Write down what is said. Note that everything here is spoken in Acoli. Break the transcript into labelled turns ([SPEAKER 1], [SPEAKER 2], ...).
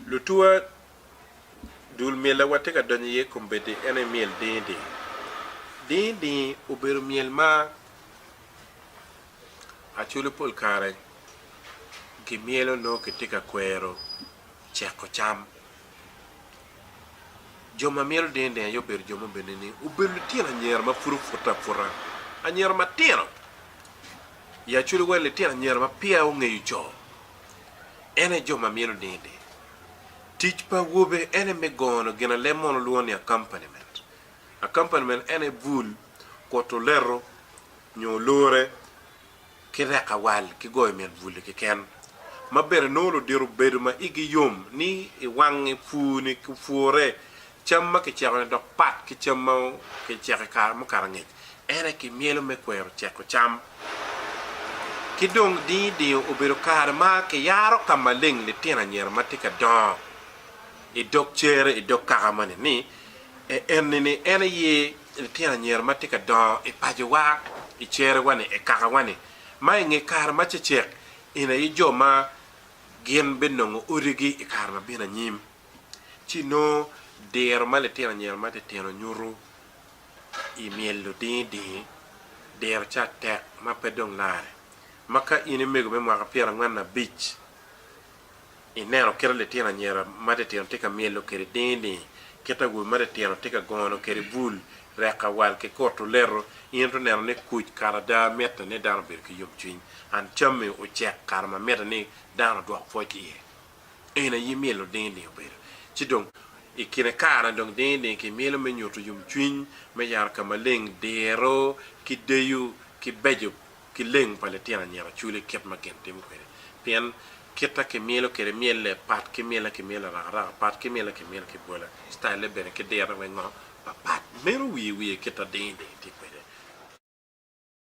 [SPEAKER 1] Lutuwa, Dul myel a watye ka donyo iye kombeddi en aye myel dingi dingi. Dingi dingi obedo myel ma acwalo pol kare gimyelo nongo kitye ka kwero ceko cam. Jo ma myelo dingi dingi aye obedo jo mubeddi ni obedo litino anyira ma pud opute aputa, anyira matino. Ya cwinyi wel litino anyira ma peya ongeyo co, en aye jo ma myelo nini. Tic pa awobe en aye me gono gin alem mono lwongo ni accompaniment. Accompaniment en aye bul, kuto leto, nyo olore, ki reko awal ki goyo mit bul-li keken. Ma bene nongo ludito bedo ma igi yom ni i wangi pur-ni ki pwore Cam ma kiceko-ni dok pat ki cam ma kiceko i kare mukato angec, en aye kimyelo me kwero ceko cam. Ki dong dingi dingo obedo kare ma kiyaro ka maleng litino anyira ma tye ka dongo i dog cere i dog kaka moni ni, E enni ni en aye litino anyira ma tye ka dongo i pacowa, i cerewa-ni, i kakawa-ni, ma i nge kare ma cecek eni aye jo ma gin binongo odigi i kare ma bino anyim. ci inongo diro ma litino anyira matitino nyuto i myel ludingi dingi, diro ca tek ma pe dong lare. Ma ka in imego me mwaka pyerangwen abic ineno kit ma litino anyira matitino tye ka myelo kwede dingi dingi, kit awobe matitino tye ka gono kwede bul, rek awal ki kutu leto, in itwero neno ni kuc kara ada mitte ni dano obedo ki yomcwiny, and cammi ocek kare ma mitte ni dano odwok pwoc iye. En aye myelo ding ding obedo. Ci dong i kine kare dong ding ding ki myelo me nyutu yom cwiny me yaro ka maleng, diro ki deyo ki beco ki leng pa litino anyira oculi kit ma gin timo kwede. Pien kita ki myelo kwede myelle pat ki myelle ki myelle araka araka pat ki myelle ki myelle ki bwole, style-le bene ki dirone weng ngo pa pat. Meno wiye wiye kita ding ding tye kwede.